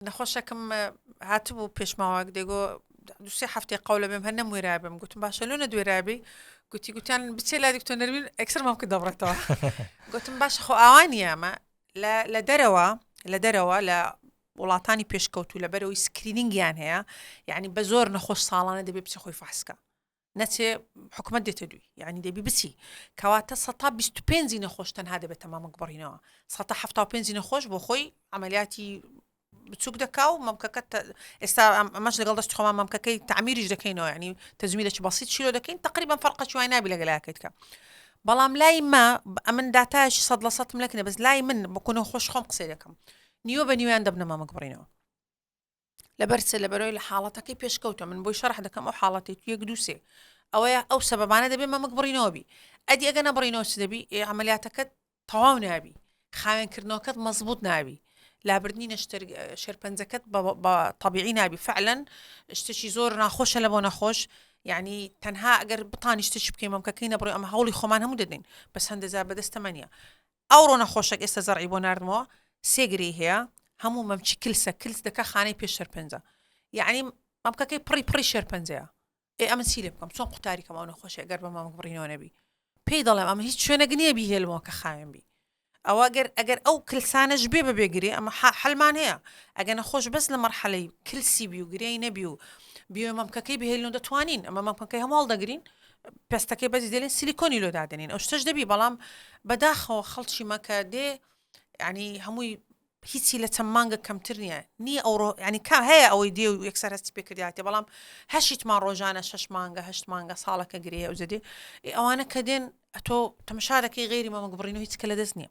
نەخۆشەکم هاتبوو پێش ماوەک دەگۆ دوسێ هەفتێ قەولە بێم هەر نەموێرابم گوتم باشە لۆ نەدوێرابی گوتی گوتیان بچێ لا دکتۆ نەروین ئەکسەرمان کە دەبڕێتەوە گوتم باش خۆ ئاوانی ئەمە لە دەرەوە لە دەرەوە لە وڵاتانی پێشکەوتو لە بەرەوەی سکرینینگیان هەیە یعنی بە زۆر نەخۆش ساڵانە دەبێ بچ خۆی فاسکە نەچێ حکومەت دێتە دووی یعنی دەبی بچی کەواتە سەتا بیست و پێنجی نەخۆش تەنها دەبێت تەمامک بڕینەوە سەتا حەفتا و پێنجی نەخۆش بۆ خۆی عملیاتی بچوک دەکا و مەمکەکە ئێستا ئەمەش لەگەڵ دەست خۆمان مەمکەکەی تعمیریش دەکەینەوە ینی تەزمیرێکی بەسییت چیرۆ دەکەین تقریبان فەرقە چوای نابی لەگەلاکەیت کە بەڵام لای ما ئەمن داتایشی سەد لە سەد ملەکنە بەس لای من بکوونە خۆش خۆم قسەی دەکەم نیوە بە نیویان دەبنە مامەک بڕینەوە لەبەر چ لەبەرەوەی لە حاڵەتەکەی پێشکەوتە من بۆی شەرح دەکەم ئەو حاڵەتی تو یەک دووسێ ئەوەیە ئەو سەبانە دەبێت مەمک بڕینەوەبی ئەدی ئەگە نەبڕینەوە چ دەبی ئەعملیاتەکەت تەواو نابی خاوێنکردنەوەکەت مەزبوط ناوی لابردنی نەشتەر شێرپەنجەکەت بە طببیعی نابی فعلەن شتێکی زۆر ناخۆشە لە بۆ نەخۆش یعنی تەنها ئەگەر بتانیشتش بکەین مەمکەکەی نەبڕی ئەم هەوڵی خۆمان هەموو دەدەین بەس هەندەزار بەدەستەمەنیە ئەوڕۆ نەخۆشەک ئێستا زەرعی بۆ ناردمەوە سێ گرێی هەیە هەموو مەمچی کلسە کلس دەکە خانەی پێش شەرپەنجە یعنی مەمکەکەی پڕی پڕی شەرپەنجەیە ئێ ئەمە چی لێ بکەم چۆن قوتاریکەم ئەو نەخۆشی گەر بە مامک بڕینەوە نەبی پێی دەڵێم ئەمە هیچ شوێنەگ نییە بیهێلمەوە کە خاوێن بی ئەوە گەر ئەگەر ئەو کلسانەش بێ بە بێگرێ ئەمە حلمان هەیە ئەگە نەخۆش بەس لە مەرحەلەی کلسی بی و گرێی نەبی و بیۆ مەمکەکەی بهێلن دەتوانین ئەمە مەمکەکەی هەماڵ دەگرین پێستەکەی بەجی دەلێن سلیکۆنی لۆ دادەنین ئەو شتەش دەبی بەڵام بەداخەوە خەڵکی مەکە دێ ینی هەمووی هیچی لە چەند مانگە کەمتر نییە نی ئەوڕۆ ینی کا هەیە ئەوەی دێ و یەکسەر هەستی پێکرداتێ بەڵام هەشیتمان ڕۆژانە شش مانگە هەشت مانگە ساڵەکە گرێ ئەو جدێ ئەوانە کە دێن ئەتۆ تەمەشارەکەی غێری مەمەگبڕین و هیچکە لە دەست نییە